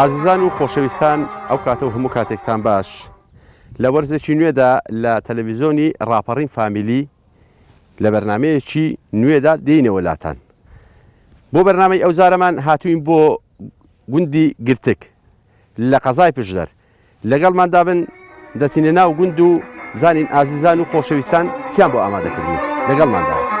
ئازیزان و خۆشەویستان ئەو کاتە و هەموو کاتێکتان باش لە وەرزێکی نوێدا لە تەلەڤیزۆنی ڕاپەڕین فامیلی لە بەرنمەیەکی نوێدا دێینەوە لاتان بۆ بەرنامەی ئەوجارەمان هاتووین بۆ گوندی گرتک لە قەزای پشدەر لەگەڵماندا بن دەچینە ناو گوند و بزانین ئازیزان و خۆشەویستان چیان بۆ ئامادەکردین لەگەڵماندا.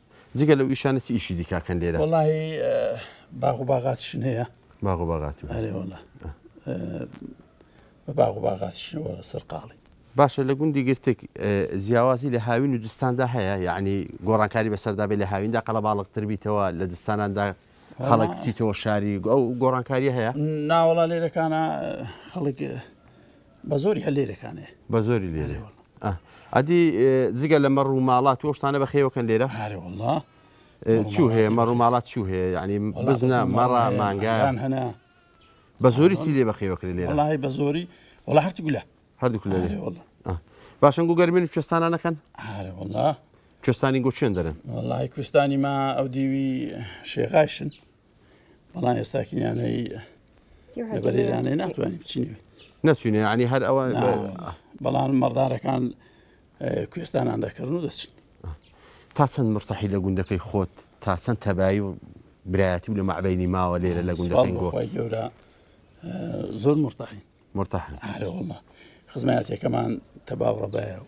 جگە لەو ئیشانە چ ئیشی دیکە کەن لێرە وەڵی باغ و باغاتشن هەیە باغ و باغات و هەرێ وڵە بە باغ و باغاتشنەوە سەرقاڵی باشە لە گوندی گرتێک جیاوازی لە هاوین و دستاندا هەیە یعنی گۆڕانکاری بەسەردابێت لە هاویندا قەڵە باڵقتر بیتەوە لە دستاناندا خەڵک بچیتەوە شاری ئەو گۆڕانکاری هەیە ناوەڵا لێرەکانە خەڵک بەزۆری هەر لێرەکانێ بەزۆری لێرە ئەدی جگە لە مەڕ و ماڵات تۆشتانە بە خێوەکەن لێرە هارێوەڵا چوو هەیە مەڕ و ماڵات چوو هەیە ینی بزنە مەڕە مانگان هەنا بە زۆری سی لێ بەخێوەکرێ لێرە لای بە زۆری وڵ هەرتی گولە هەردوو لێ باشن گو گەرمین و کوێستانە نەکەن هارێوەڵا کوێستانی گۆچێن دەرن وڵی کوێستانی ما ئەو دیوی شێغایشن بەڵام ئێستاکییانەی بەرێرانێ ناتوانین بچینێ نەچینێ ینی هەر ئەوە بەڵام مەڕدارەکان کوێستانان دەکردن و دەچین تا چەند مرتەحی لە گوندەکەی خۆت تا چەند تەبایی و برایەتی و لە مەعبینی ماوە لێرە لە گوندەکەی گۆخوای گەورە زۆر مرتەحی مرتەحەوە خزمەتەکەمان تەباو ڕەبایە و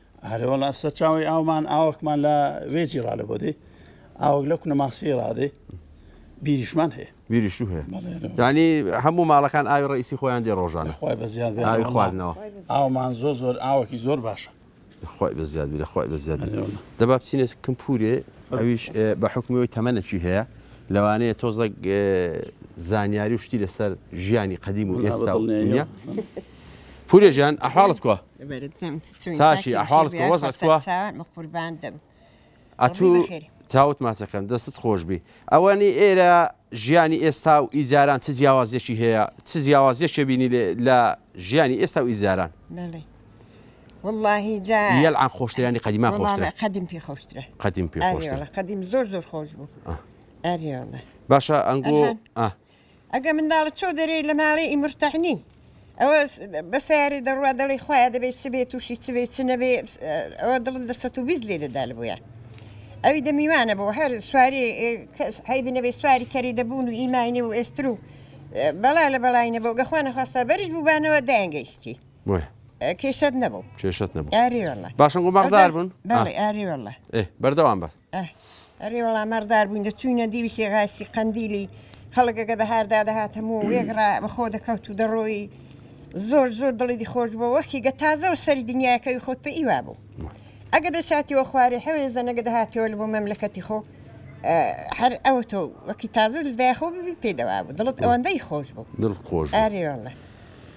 ئارێ وەڵا سەرچاوەی ئاومان ئاوەکمان لە وێجی ڕالە بۆ دێ ئاوەک لە کونە ماسی ڕادێ بیریشمان هەیە بیریش هەیە ینی هەموو ماڵەکان ئاوی ڕئیسی خۆیان دێ ڕۆژانە خۆی بە زیاد ئاوی خواردنەوە ئاومان زۆر زۆر ئاوەکی زۆر باشە خۆی بە زیاد لە خۆی بە زیاد دەبا بچینە کەم پورێ ئەویش بە حکومیەوەی تەمەەکی هەیە لەوانەیە تۆزەک زانیاری و شتی لەسەر ژیانی قەدیم و ئێستا پورێژیان ئەحاڵت کوە چاکی ئەحواڵت کە وەزعت کوا؟ ئەتوو چاوت ماچەکەن دەستت خۆش بی ئەوەنی ئێرە ژیانی ئێستا و ئیجاران چ جیاوازیەکی هەیە چ جیاوازیەکێ بینی لە ژیانی ئێستا و ئیجاران یەلعان خۆشترانی قەدیما خۆشتر قدیم پێ خۆشترە قدیم پێ قدیم زۆر زۆر خۆش بوو باشە ئەنگۆ ئەگە منداڵت چۆ دەرێی لە ماڵێ ئی مرتەحنی ئەوە بە سیارێ دەڕوا دەڵی خۆیان دەبێت چ بێت تووشی چ بێت چ نەبێ ئەوە دڵت لە سە و بیست لێ دەدا بووە ئەوی دەمیوانە بۆ هەر سواری هەی بنەبێ سواری کەری دەبوون و ئیماینێ و ئێستر و بەڵا لە بەڵینە بۆ گەخوا نەخواستە بەرز بووبانەوە دایانگەیشتی کێشت نەبوو کێشت نەبوو باشن گومەڕدار بوون بەردەوام بە ئه ئەرێ وەڵا مەڕدار بووین دەچووینە دیوی سێغاسی قەندیلی خەڵکەکە دەهاردا دەهات هەموو وێگڕا بەخۆ دەکەوت و دەڕۆی زۆر زۆر دڵی خۆش بۆ وەختی گە تازەوە سەری دنیاەکەی خۆت پێ ئیوا بوو ئەگە دەساتیەوە خوارێ حەوێ زەنەگە دەهاتەوە لە بۆ مەملەکەتی خۆ هەر ئەو تۆ وەکی تازە دایخۆ ببی پێدەوا بوو دڵت ئەوەندەی خۆش بوو دڵ خۆش ئارێوەڵە.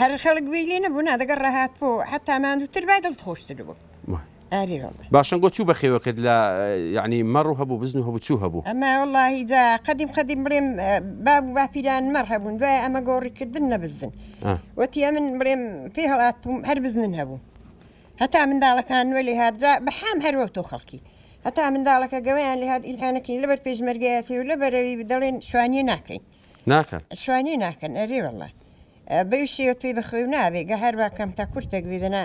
هەر خەڵک گوێی لێ نەبوو نا دەگەڕا هاتبۆ حەتا ماندووتر با دڵت خۆشتر بوو ئاری وەڵڵا باشە گۆ چوو بە خێوەکەت لە یعنی مەڕ و هەبوو بزن و هەبوو چوو هەبوو ئەمە وەڵڵاهی جا قەدیم قەدیم بڵێم ئە، باب و باپیران مەڕ هەبوون دوای ئەمە گۆڕی کردن نە بزن ئا. وەتی ئەمن بڵێم پێی هەڵات بووم هەر بزنن هەبوو هەتا منداڵەکان نوێ لێ هات جا بەحام هەر وەوتۆ خەڵکی هەتا منداڵەکە گەوەیان لێ هات ئیلحانەکەین لەبەر پێشمەرگەیەتی و لە بەرەوی دەڵێن شوانییە ناکەین ناکەن شوانی ناکەن ئەری والله بەویشیوت پێی بەخوێ و نابێ گە هەروە کەم تا کورتێک ویدەنا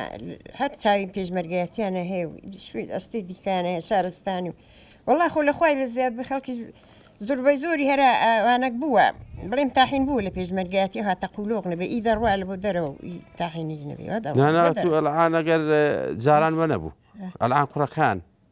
هەر چاوی پێشمەرگایەتیانە هەیە و شوێن ئەستی دیکانە هەیە شارستانی و وڵا خۆ لە خۆی لە زیاد بە خەڵکی زۆربەی زۆری هەرا ئەوانەک بووە بڵێم تاحین بوو لە پێشمەرگایەتی هاتە قولۆق نەبێ ئی دەڕوا لە بۆ دەرەوە و ئی تاحینی نەبێ وە دەڕوا. نانا دەڕوا. تو ئەلعان ئەگەر جاران وە نەبوو ئەلعان کوڕەکان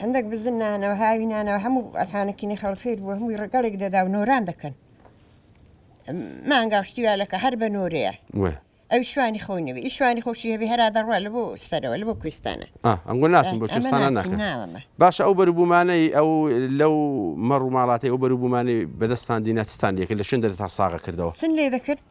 هەندەک بزن نانەوە هاوی نانەوە هەموو ئەرهانەکینی خەڵفێر بوو هەمووی ڕگەڵێک دەدا و نۆران دەکەن مانگا شتی والەکە هەر بە نۆرەیە ئەو شوانی خۆی نەبێ ئی شوانی خۆشی هەبێ هەرا دەڕوا لە بۆ سەرەوە لە بۆ کوێستانە ئەنگۆ ناسم بۆ کوێستانە ناکەن باشە ئەو بەروبوومانەی ئەو لەو مەڕ و ماڵاتی ئەو بەروبوومانی بەدەستان دینا چتان لێکرد لە شوێن دەرتان ساغە کردەوە چن لێ دەکرد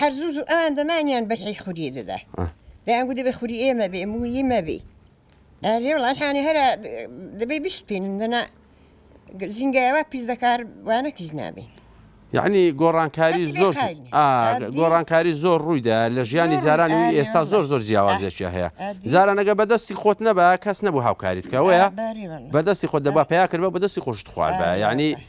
هەر زوو زوو ئەوان دەمانیان بە هی خوری دەدا دەیان گو دەبێ خوری ئێمە بێ مویی مەبی ئەێ وڵاتانی هەرا دەبێ بشتینن دەنا زینگایەوە پیس دەکار وانە کیس نابێ یعنی گۆڕانکاری زۆر گۆڕانکاری زۆر ڕوویدا لە ژیانی زارانی و ئێستا زۆر زۆر جیاوازێکیا هەیە زارانەگە بەدەستی خۆت نەبا کەس نەبوو هاوکاری بکەوەیە بەدەستی خۆت دەبا پیا کرد بە بەدەستی خۆشت خوارد بە ینی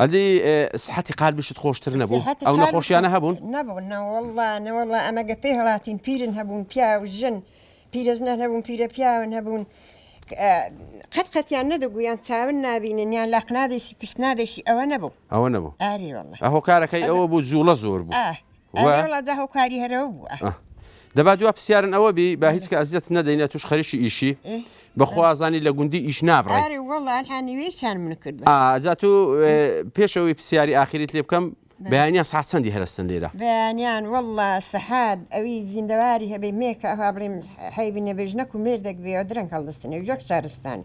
ئەدی سحەتی قالبیشت خۆشتر نەبوو ئەو نەخۆشیانە هەبوون نەبوون نەوەڵا نەوەڵا ئەمە گە پێی هەڵاتین پیرن هەبوون پیاو ژن پیرەژنە نەبوون پیرە پیاون هەبوون قەت قەتیان نەدەگویان چاون نبینن یان لە قنادێکی پشت نادێکی ئەوە نەبوو ئەوە نەبوو ئاری هۆکارەکەی ئەوە بوو جوڵە زۆر بوو دەبا دوا پرسیارن ئەوە بی با هیچ کە ئەزیەت نەدەینە توش خەریکی ئیشی بەخوازانی لە گوندی ئیش نابڕێ ئازات و پێشەوەی پرسیاری ئاخریت لێ بکەم بەیانیان ساعت چەندی هەرستن لێرە بەیانیان والله سەحاد ئەوی زیندەواری هەبێ مێکە ئەها بڵێم حەیبی نەبێژنەک و مێردێک بێ درەنگ هەڵدەستنێ جۆک شارستانی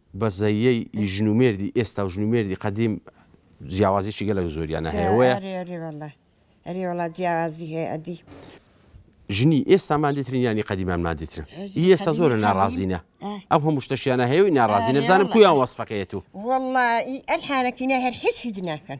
بەزەیەی ی ژن و مێردی ئێستا و ژن و مێردی قەدیم جیاوازیەکی گەلەک زۆریانە هەیە وەیە. ئەرێ ئەرێ وەڵا ئەرێ وەڵا جیاوازی هەیە ئەدی. ژنی ئێستا مادیترین یانی قەدیمان مادیترن ئی ئێستا زۆرە ناڕازینە ئەو هەموو شتەشیانە هەیە و ناڕازینە بزانم کویان وەسفەکەیەت و. وەڵا ئی ئەلحانەکینە هەر هیچ هیچ ناکەن.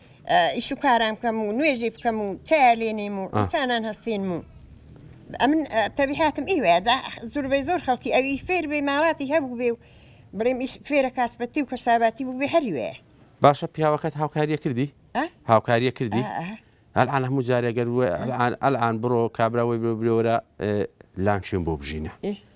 ئیش و کارام بکەم و نوێژی بکەم و چیا لێنیم و ئینسانان هەستینم و ئەمن تەبیحاتم ئی وێدا زوربەی زۆر خەڵکی ئەوی فێر بێ ماواتی هەبوو بێ و بڵێم ئیش فێرە کاسپەتی و کەساباتی بوو بێ هەری وێ باشە پیاوەکەت هاوکاریە کردی هاوکاریە کردی ئەلعان هەموو جارێگەر ئەلعان بڕۆ کابراوەی بێ برێوەرە لانچێن بۆ بژینە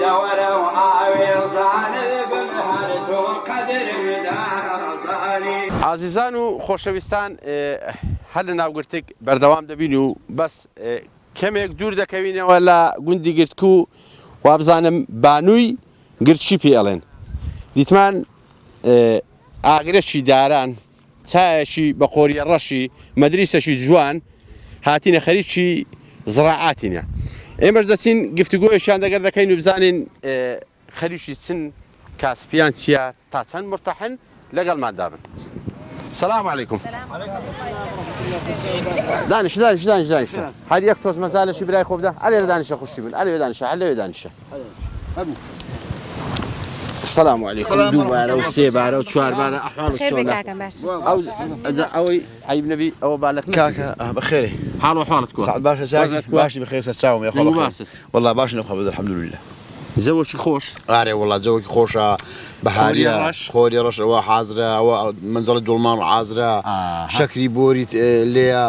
دەوەرە و ئاوێزان بم هەر تۆ قەدرم دارەزانی. ئازیزان و خۆشەویستان هەر لە ناوگرتگ بەردەوام دەبین و بەس کەمێک دوور دەکەوینەوە لە گوندی گرتک و وابزانم بانووی گرتکی پێ ئەڵێن دیتمان ئاگرەکی داران چایەکی بە قۆریە ڕەشی مەدریسەکی جوان هاتینە خەریکی زڕاعاتینە ئێمەش دەچین گفتوگۆیشیان دەگەر دەکەین و بزانین خەریکی چن کاسپیان چییە تا چەند مرتەحن لەگەڵمان دابن سلام علیکم دانش دانش دانش دانش هەر یەک تۆز مەزالەشی برای خۆبدا ئەرێ دانیشە خوشتی بن ئەرێ دانیشە هەر لەوێ دانیشە سلام علیکم دوو بارە و سێ بارە و چوار بارە ئەحواڵ ئەوەی عیب نەبی ئەوە بالک کاکە بەخێری حاڵ و حاڵت باشە چاک باشی بەخێر سەر چاوم یاخوا باست والله باش نەخوا بەزە الحمدلله زەوەکی خۆش ئارێ وڵات زەوەکی خۆشە بەهاریە خۆری ڕەشەوە حازرە ئەوە منجڵی دوڵمان حازرە شەکری بۆری لێە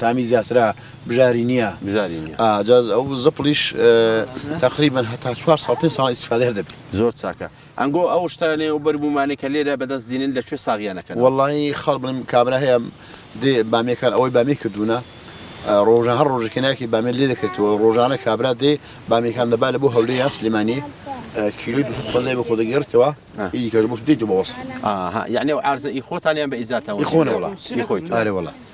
تامی زیاترە بژاری نییە بژاری نیە جا ئەو زپڵیش تقریبا هەتا چوار ساڵ پێ ساڵ ئیسفادەر دەبی زۆر چاکە ئەنگۆ ئەو شتانێ و بەربوومانێک کە لێرە بەدەست دینن لە کوێ ساغیانەکەن وڵی خەڵ بڵم کابرا هەیە دێ بامێکان ئەوەی بامی کردوونە ڕۆژە هەر ڕۆژەکە ناکی بامێ لێ دەکرێتەوە ڕۆژانە کابرا دێ بامێکان دەبا لە بۆ هەولێ یا سلمانی کیلوی دو خۆزای بە خۆ دەگەێتەوە ئیدی کەژ بۆ دیت بەوەست یعنی و عرزە ئی خۆتانیان بە ئیزاتەوە خۆنەوە خۆی ئارێوەڵە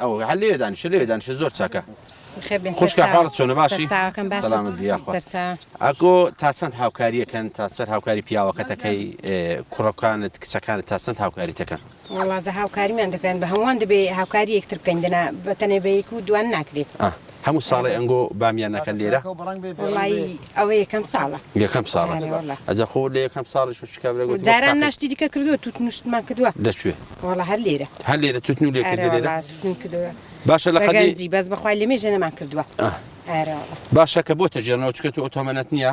ئەوە هەر لێوێ دانیشە لێوێ دانیشە زۆر چاکە خوشکە حاڵت چۆنە باشی سەلامت بیا ئەکۆ تا چەند هاوکاریەکەن تا سەر هاوکاری پیاوەکەتەکەی کوڕەکانت کچەکانت تا چەند هاوکاریتەکەن وڵاتە هاوکاریمان دەکەن بە هەمووان دەبێ هاوکاری یەکتر بکەین دەنا بەتەنێ بەیک و دوان ناکرێت هەموو ساڵێ ئەنگۆ بامیان ئەکەن لێرە؟ وەڵایی ئەوە یەکەم ساڵە. یەکەم ساڵە؟ بەڵێ وەڵا. ئەجا خۆ لە یەکەم ساڵیش و شکا برا گوتم جاران تاقی. ناشتی دیکە کردووە توتن و شتمان کردووە لە کوێ؟ وەڵا هەر لێرە هەر لێرە توتن و لێ ئەرێ کردی وەڵا لێرە؟ توتن کردووە باشە لە بە قەدی گەنجی بەس بەخوای لەمێژە نەمان کردووە ئەرێ وەڵا. باشە کە بۆتە ژێرنەوە چکە تۆ ئۆتۆمەنت نییە؟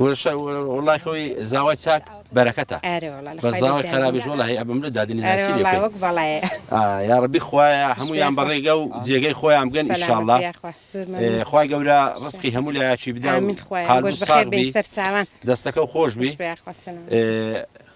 ورشە وەڵای خۆی زاوای چاک بەرەکەتە بەس زاوای خەرابیش وەڵای ئەبم لە دادنی ناسی لێ بکەی یاڕەبی خوایە هەموویان بە ڕێگە و جێگەی خۆیان بگەن ئیشاڵڵا خوای گەورە ڕسقی هەموو لایەکی بدا قالبت ساغ بی دەستەکەو خۆش بی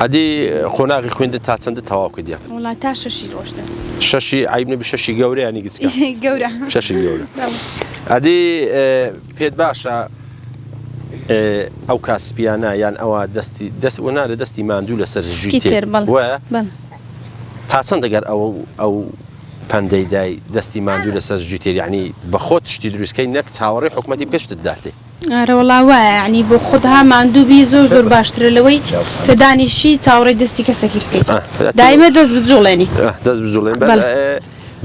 ئەدی قۆناغی خویندن تا چەندە تەواو کردیە؟ وەڵا تا شەشی ڕۆشتن. شەشی عەیب نەبی شەشی گەورە یانی گچکە؟ گەورە شەشی گەورە ئەدی پێت باشە ئەو کا سپیانە یان ئەوە دەستی دەست وە نارە دەستی ماندوو لەسەر زوی تێر تا چەند دەگەر ئەوە ئەو پەندەی دای دەستی ماندوو لەسەر زوی تێریانی بەخۆت شتی دروستکەی نەک چاوەڕی حکوومەتی بگەشتت داتێ ئارەوەڵا وایە یەعنی بۆ خودها ماندوو بی زۆر زۆر باشترە لەوەی کە دانیشی چاوەڕێی دەستی کەسەکی بکەیت دایمە دەست بجوڵێنی دەست بجوڵێن بەڵێ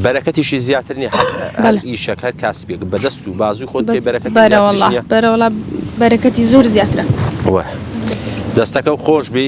بەرەکەتیشی زیاتر نیە ئیشەک هەر کاسبێک بەدەست و بازوی خۆت بێ بەرەکەت بەرەوەڵ بەرەوەڵا بەرەکەتی زۆر زیاترە دەستەکە و خۆش بی.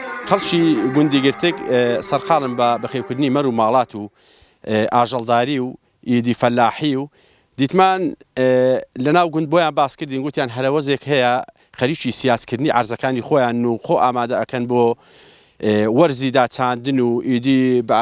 خەڵکی گوندی گرتگ سەرقاڵن بە بەخێوکردنی مەر و ماڵات و ئاژەڵداری و ئیدی فەلاحی و دیتمان لەناو گوند بۆیان باس کردین گوتیان هەرەوەزێک هەیە خەریکی سیاسکردنی عەرزەکانی خۆیان و خۆ ئامادە ئەکەن بۆ وەرزی داچاندن و ئیدی بە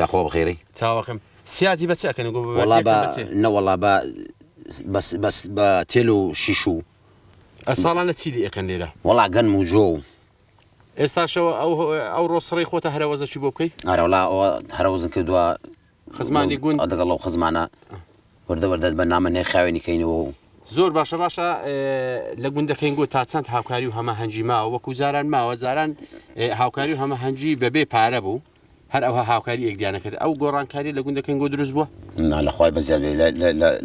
یاخوا بەخێرەی چاوەکەم سیاجی بە چ ئەکەن گۆ وەڵا بە نەوەڵا بە بەس بەس بە تێل و شیش و ئەساڵانە چی لە ئەکەن لێرە وەڵا گەن و جۆ و ئێستاشەوە ئەو ئەو ڕۆسڕی خۆتە هەرەوەزەکی بۆ بکەیت ئارەولا ئەوە هەرەوەزن کردووە خزمانی گوند دەگەڵ ئەو خزمانە وردە وردە بەرنامە نێرخاوێنی کەینەوە و. زۆر باشە باشە لە گوندەکەینگۆ تا چەند هاوکاری و هەمەهەنگی ماوە وەکو جاران ماوە جاران هاوکاری و هەمەهەنگی بەبێ پارە بوو هەر ئەوها هاوکاری یەکدیانە کرد ئەو گۆڕانکاری لە گوندەکەین گۆ دروست بووە لەخوای بەزیاد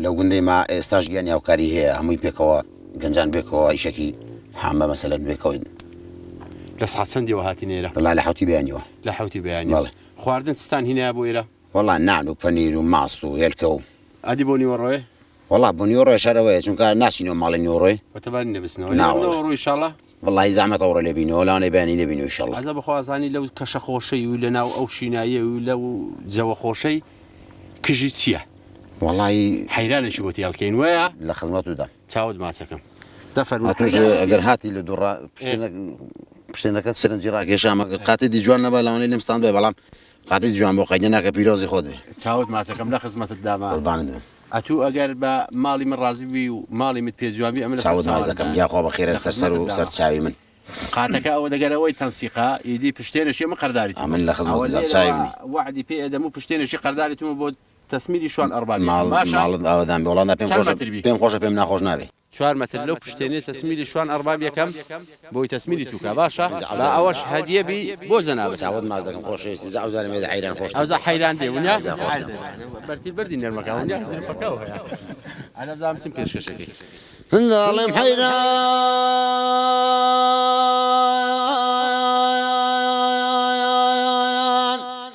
لە گوندەی ما ئێستاش گیان هاوکاری هەیە هەمووی پێکەوە گەنجان بێکەوە ئیشەکی حامە مەسەلە بێکەوەین لە ساعت چەندیەوە هاتی نێرە لە لە حوتی بیانەوە لە حوتی بیانی خواردن ستان هینە بۆ ئێرە وەڵا نان و پەنیر و ماست و هێلکە و. ئەدی بۆ نیوەڕۆێ؟ وەڵا بۆ نیوەڕۆێ شەر ئەوەیە چونکە ناچینەوە ماڵێ نیوەڕۆێ. بەتەبانی نەبستنەوە نا واللە. ئەمرۆ ئیشاڵا. وەڵاهی زەحمەتە ئەوڕۆ لێ بینەوە لەوانەیە بەیانی لێ بینەوە ئیشاڵا. ئەزە بەخوا ئەزانی لەو کەشە خۆشەی و لەناو ئەو شیناییە و لەو جەوە خۆشەی کژی چییە؟ وەڵاهی حەیرانێکی بۆ تێڵ کەین وەیە؟ لە خزمەتتدام. چاوت ماچەکەم. دە فەرموو. ئەتووش ئەگەر هاتی لە دوڕا پشتێنە پشتێنەکەت سەرنجی ڕاکێشام ئەگەر قاتێدی جوان نەبا لەوانەیە لێم ستاندبای بەڵام قادری جوان بۆ قەیدە ناکە پیرۆزی خۆت بێ. چاوت ماچەکەم لە خزمەتت دامە. قوربانت بم. ئەتوو ئەگەر بە ماڵی من ڕازی بووی و ماڵی مت پێ جوان بی ئەمن لە سەر چاوت چاوانت ماچەکەم دان. یاخوا بە خێرە لە لەسەر سەر خزمەتت و سەر دامە. چاوی من. قاتەکە ئەوە دەگەر ئەوەی تەنسیقە ئیدی پشتێنەشی ئەمن قەرداریتم. ئەمن لە خزمەتت ئەوە دام لێرەوە چاوی منی. وەعدی پێ ئەدەم و پشتێنەشی قەرداریتم و بۆ تەسمیری شوان ئەڕبابی ئەکەم ماڵ باشە؟ ماڵت ئاوەدان بێ وەڵا نا پێم چەند خۆشە مەتر بی؟ پێم خۆشە پێم ناخۆش نابێ. چوار مەتر لەو پشتێنەی تەسمیلی شوان ئەڕباب یەکەم بۆی تەسمیلی توکا باشە با ئەوەش هەدیە بی بۆ جەنابت. چاوت ماچ دەکەم خۆشەویستی جا ئەوجا نەمێدە حەیران خۆش ئەوجا حەیران دێ ونیا ئەوجا خۆش دەبێ بەرتی بەردی نەرمەکە ونیا زلفەکە و هەیە ئەدە بزانم چیم پێشکەشەکەی. هەندە ئەڵێم حەیران.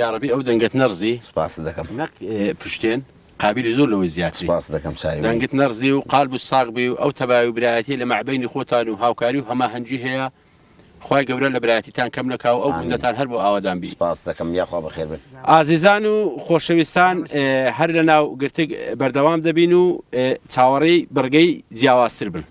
یاڕەبی ئەو دەنگەت نەڕزی. سوپاست دەکەم. نەک پشتێن قابیلی زۆر لەوەی زیاتری. سوپاست دەکەم چاوی من. دەنگت نەڕزی و قالبت ساغ بی و ئەو تەبایی و برایەتیە لە مابەینی خۆتان و هاوکاری و هەماهەنگی هەیە خوای گەورە لە برایەتیتان کەم نەکا و ئەو گوندەتان هەر بۆ ئاوادان بی. سوپاست دەکەم یاخوا بەخێر بن. ئازیزان و خۆشەویستان هەر لەناو گرتگ بەردەوام دەبین و چاوەڕێی بڕگەی جیاوازتر بن.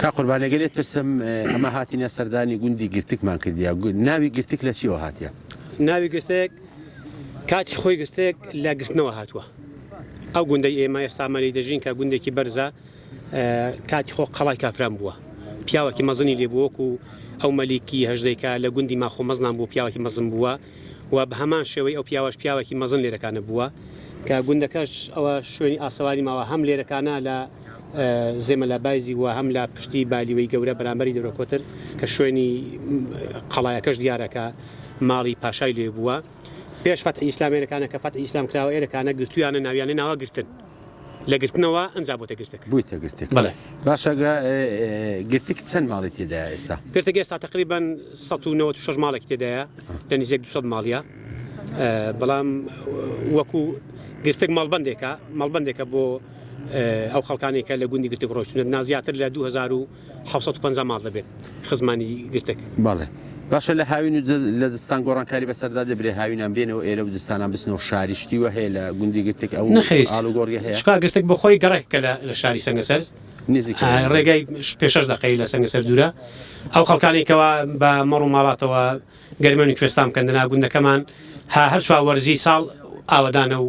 کاک قوربان ئەگەر لێت پرسم ئەمە هاتینە سەردانی گوندی گرتکمان کردیا ناوی گرتک لە چیەوە هاتیە؟ ناوی گرتک کاتی خۆی گرتک لە گرتنەوە هاتووە ئەو گوندی ئێمە ئێستامەلی دەژین کە گوندێکی بەرزە کاتی خۆ قەڵای کافران بووە پیاوەکی مەزنی لێبووەک و ئەو مەلیکی هەژدەیکە لە گوندی ماخۆ مەزنان بۆ پیاوەکی مەزم بووە و بە هەمان شێوەی ئەو پیاوەش پیاوەکی مەزن لێرەکانە بووە کە گوندەکەش ئەوە شوێنی ئاسەواری ماوە هەم لێرەکانە لە زێمەلا بایزی و هەم لە پشتی بالیوەی گەورە بەرامبەری دەورە کۆتر کە شوێنی قەڵایەکەش دیارەکە ماڵی پاشای لێ بووە پێش فەتحی ئیسلام ئێرەکانە کە فەتحی ئیسلام کراوە ئێرەکانە گرتویانە ناویانە ناوە گرتن. لە گرتنەوە ئەنجا بۆتە گرتک بوویتە گرتک بەڵێ باشە گرتک چەند ماڵی تێدا ئێستا پێتەگە ئێستا تقریبان 1996 ماڵێک تێدایە لە نزیک 200 ماڵە بەڵام وەکو گرتک ماڵبندێکە ماڵبندێکە بۆ ئەو خەڵکانێکە لە گوندی گرتک ڕۆشتونە نازیاتر لە 2000 حەوت سەد و پەنجا ماڵ دەبێت خزمانی گرتەک. بەڵێ باشە لە هاوین و لە زستان گۆڕانکاری بەسەردا دەبرێ هاوینان بێنەوە ئێرە و زستانان بچنەوە شاری شتی وە هەیە لە گوندی گرتک ئەو نەخیر ئاڵوگۆڕیە هەیە؟ چکا گرتک بۆ خۆی گەڕەکێکە لە لە شاری سەنگەسەر نزیکە ئا یان دوورە؟ ڕێگای پێ شەش دەقەیە لە سەنگەسەر دوورە ئەو خەڵکانەی کەوا بە مەڕ و ماڵاتەوە گەرمیان و کوێستان بکەن دەنا گوندەکەمان ها هەر چوار وەرزی ساڵ ئاوەدانە و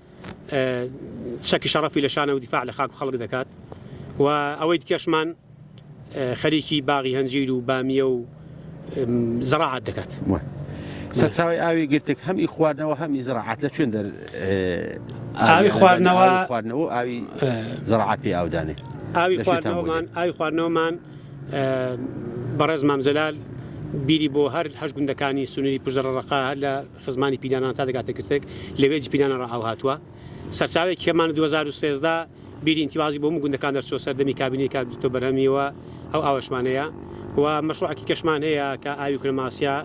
چەکی شەڕەفی لە شانە و دیفاع لە خاک و خەڵک دەکات و ئەوەی دیکەشمان خەریکی باغی هەنجیر و بامیە و زەڕاعات دەکات. سەرچاوی ئاوی گرتک هەم ئی خواردنەوە هەم ئی زراعات لە چێن دەر ئاوی خواردنەوە خواردنەوە ئاوی زراعات پێ ئاودانێ ئاوی خواردنەوەمان ئاوی خواردنەوەمان بەڕێز مامزلال بیری بۆ هەر هەش گوندەکانی سنووری پژەڕەقا هەر لە خزمانی پیرانان تا دەگاتە گرتک لە وێجی پیرانان ڕا ئاو هاتووە سەرچاوەیەکی کەمان دوو هەزار و سێزدە بیری ئینتیوازی بۆ هەموو گوندەکان دەرچووە سەردەمی کابینەی کاک دوکتۆر بەرهەمیەوە ئەو ئاوەشمان هەیە و مەشروعەکی کەشمان هەیە کە ئاوی کرماسیا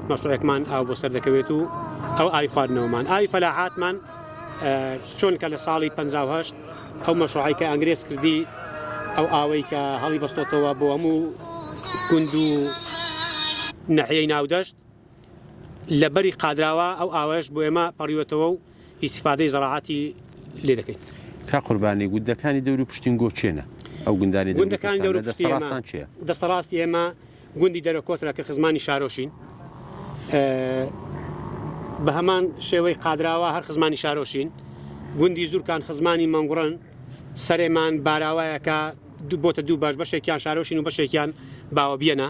مەشروعێکمان ئاو بۆ سەر دەکەوێت و ئەو ئاوی خواردنەوەمان ئاوی فەلاحاتمان چۆن کە لە ساڵی 1950 ئەو مەشروعی کە ئەنگرێز کردی ئەو ئاوەی کە هەڵی بەستۆتەوە بۆ هەموو گوند و نەحیەی ناودەشت لە بەری قادراوا ئەو ئاوەش بۆ ئێمە پەڕیوەتەوە و ئیستیفادەی زەراعاتی لێ دەکەین. کاک قوربانی گوندەکانی دەوری پشتین گۆ کێنە؟ ئەو گوندانی دەوری پشتان لە دەستەڕاستان کێیە؟ دەستەڕاستی ئێمە گوندی دەرە کۆترە کە خزمانی شارۆشین بە هەمان شێوەی قادراوا هەر خزمانی شارۆشین گوندی زورکان خزمانی مەنگوڕن سەرێمان باراوایەکە دوو بۆتە دوو باش بەشێکیان شارۆشین و بەشێکیان باوە بیەنە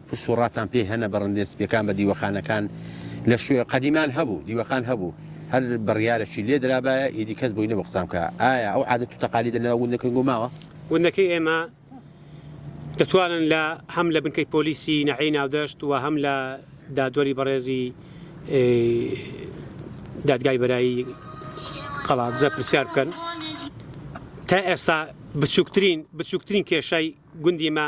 پرس و ڕاتان پێ هەنە بەڕندێ سپیەکان بە دیوەخانەکان لە شوێ قەدیمان هەبوو دیوەخان هەبوو هەر بڕیارەکی لێ درابایە ئیدی کەس بۆی نەبوو قسان بکا ئایا ئەو عادەت و تەقالیدە لەناو گوندەکەی گۆ ماوە؟ گوندەکەی ئێمە دەتوانن لە هەم لە بنکەی پۆلیسی ناحیەی ناودەشت و هەم لە دادوەری بەڕێزی دادگای بەرایی قەڵادزە پرسیار بکەن تا ئێستا بچووکترین بچووکترین کێشای گوندی مە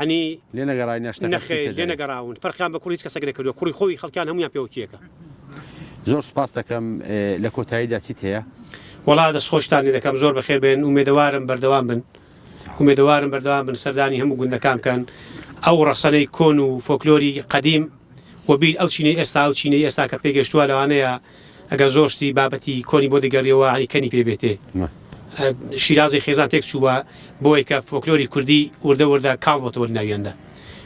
عنی لێ نەگەڕای نە شتەکە چی نەخێر تێ لێ دەرێ. نەگەڕاون فەرقیان بە کوڕی هیچ کەسەک نەکردووە کوڕی خۆی خەڵکیان هەموویان پێوەکییەکە. زۆر سوپاست دەکەم لە کۆتاییدا چیت هەیە؟ وەڵا دەست خۆشتان لێ دەکەم زۆر بەخێر بێن ئومێدەوارم بەردەوام بن ئومێدەوارم بەردەوام بن سەردانی هەموو گوندەکان بکەن ئەو ڕەسەنەی کۆن و فۆکلۆری قەدیم وەبیر ئەو چینەی ئێستا ئەو چینەی ئێستا کە پێگەشتووە لەوانەیە ئەگەر زۆر شتی بابەتی کۆنی بۆ دەگەریەوە ئەنی کەنی پێ بێتێ شیرازی خێزان تێک چووە بۆی کە فۆکلۆری کوردی وردە وردە کاڵ بۆتەوە ناویاندا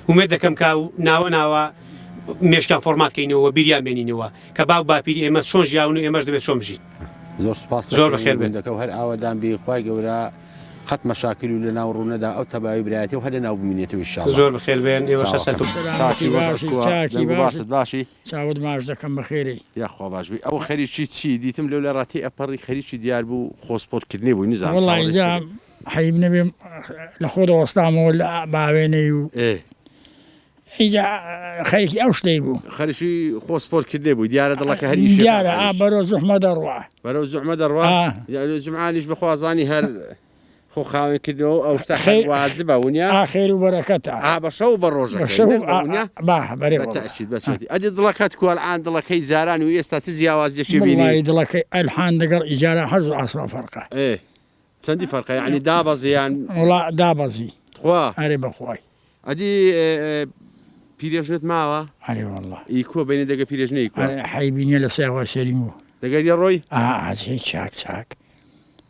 ومێ دەکەم کا و ناوە ناوە مێشکان فۆرمات کەینەوە بیریان بێنینەوە کە باو باپیری ئێمە چۆن ژیاون و ئێمەش دەبێت چۆن بژین زۆر سپاس زۆر بەخێر بێن دەکە هەر ئاوادان بی خی گەورە قەت مەشاکل و لە ناو ڕوونەدا ئەو تەباوی برایەتی و هەر لە ناو بمینێتەوە شا زۆر بخێر بێن ئێوە شە سەر باشی باشی چاوت ماچ دەکەم بەخێرێی. یاخوا باش بی ئەوە خەریکی چی دیتم لەو لەرا تێ ئەپەڕی خەریکی دیار بوو خۆ سپۆرت کردنی بووی نزانم وەڵا چاوەڕێی ئینجا چیبوو. حەیب نەبێ لە خۆ دەوەستامەوە لە باوێنەی و ئێ. ئینجا خەریکی ئەو شتەی بوو. خەریکی خۆ سپۆرت کردنی بووی دیارە دڵەکە هەر ئیشێکا دیارە ئا ئەویش. بەرەو زوحمە دەڕوا. بەرەو زوحمە دەڕوا؟ ئا. یارۆ جمعانیش بەخوا زانی هەر. خۆ خاوێن کردەوە ئەو شتە خەیر وازبە ونیا ئاخێر و بەرەکەتە ئا بە شەو بە ڕۆژە ئەدی دڵەکەت کوالعاان دڵەکەی زاران و ئێستا چ جیاواز دەشی بینی دڵەکەی ئەلحان دەگەڵ ئیجارە حەز و ئاسما فەرقە چەندی فەرقە ینی دابەزیان وڵا دابەزی خوا هەرێ بەخوای ئەدی پیرێژنت ماوە ئەرێ والله ئی کۆ بینی دەگە پیرێژنەی حیبینە لە سێوە سێریم و دەگەری ڕۆی ئاهێ چاک چاک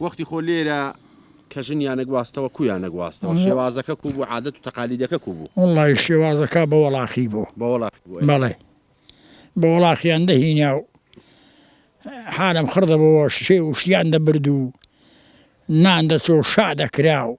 وەختی خۆ لێرە کە ژن یانە گواستەوە کو یانە گواستەوە شێوازەکە کو بوو عادەت و تەقالیدەکە کو بوو؟ وەڵڵا ی شێوازەکا بە وەڵاخی بوو بە وەڵاخی بوو ئەی. بەڵێ بە وەڵاخیان دەهینا و حالم خڕ دەبۆوە شێ و شتیان دەبرد و نان دەچۆ و شا دەکرا و.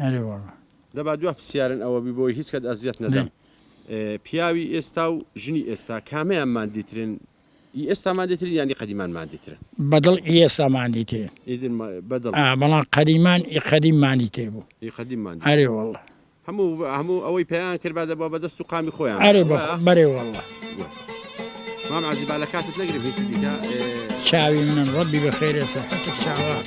ئەرێ وەڵا. دە با دوا پسیارن ئەوە بی بۆی هیچ کات ئەزیەت نەدەم پیاوی ئێستا و ژنی ئێستا کامیان ماندی ترن ئی ئێستا ماندی ترن یان ئی قەدیمان ماندی ترن. بەدڵ ئی ئێستا ماندی ترن. ئیدر بەدڵ. ئا بەڵام قەدیمان ئی قەدیم ماندی تر بوو. ئی قەدیم ماندی. ئەرێ وەڵا. هەموو هەموو ئەوەی پێیان کرد با دەبا بەدەست و قامی خۆیان. ئەرێ بەخۆ بەرێ وەڵا. مام عەزیز با لە کاتت نەگرم هیچی دیکە. چاوی منن ڕەبی بە خێرێ سەحەتت چاوات.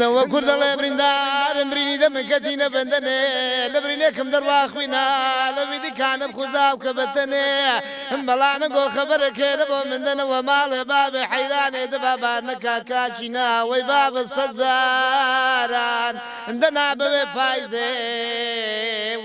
نەوە کورد دەڵێ بریندارم برینی دەمن کە تینە بەندەنێ لە برینێکم دەڕوا خوینا لە ویدی کانم خوزاو کە بەتەنێ مەڵا نەگۆ خەبەرە کێ لە بۆ من دەنە وە ماڵێ بابێ حەیرانێ دە با بار نەکا کاچی نا وەی بابە سەد جاران دەنا بەوێ پایزێ و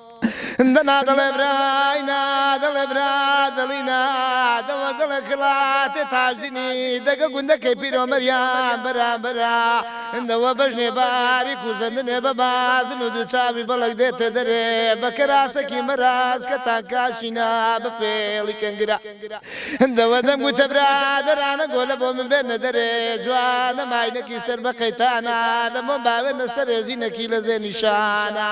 دەنا دەڵێ برای نا دەڵێ برا دڵی نا دەوە دڵە کڵاتێ تاژدینی دەگە گوندەکەی پیرۆمەریان بەرامبەرا دەوە بەژنێ باری کوزەندنێ بە بازن و دووچاوی بەڵک دێتە دەرێ بە کەراسەکی مەراز کە تانکاشینا بە فێڵی کەنگرا دەوە دەم گوتە برا دەرانە گۆلە بۆ من بێنە دەرێ جوانە ماینەکی سەر بە قەیتانە لە مۆم باوێنە سەرێزینەکی لە زێ نیشانە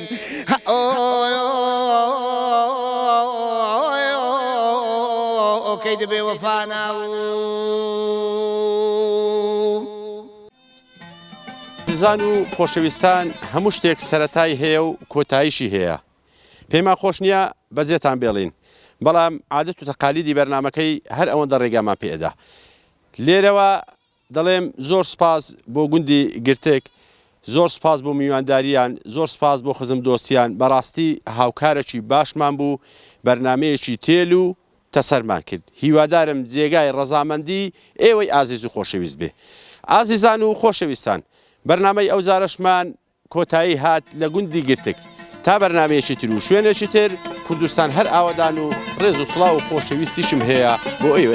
ئۆکەی دەبێ وەفانا و دزان و خۆشەویستان هەموو شتێک سەتای هەیە و کۆتایشی هەیە پێما خۆش نییە بەجێتان بێڵین بەڵام عادەت و تەقالیدی بەرنمەکەی هەر ئەوەندە ڕێگامان پێدا لێرەوە دەڵێم زۆر سوپاس بۆ گوندی گرتک زۆر سوپاس بۆ میوانداریان زۆر سوپاس بۆ خزم دۆستیان بەڕاستی هاوکارەکی باشمان بوو بەرنامەیەکی تێل و تەسەرمان کرد هیوادارم جێگای ڕەزامەندی ئێوەی ئازیز و خۆشەویست بێ ئازیزان و خۆشەویستان بەرنامەی ئەوجارەشمان کۆتایی هات لە گوندی گرتک تا بەرنمەیەکی تر و شوێنێکی تر کوردستان هەر ئاوەدان و ڕێز و سڵاو و خۆشەویستیشم هەیە بۆ ئێوەی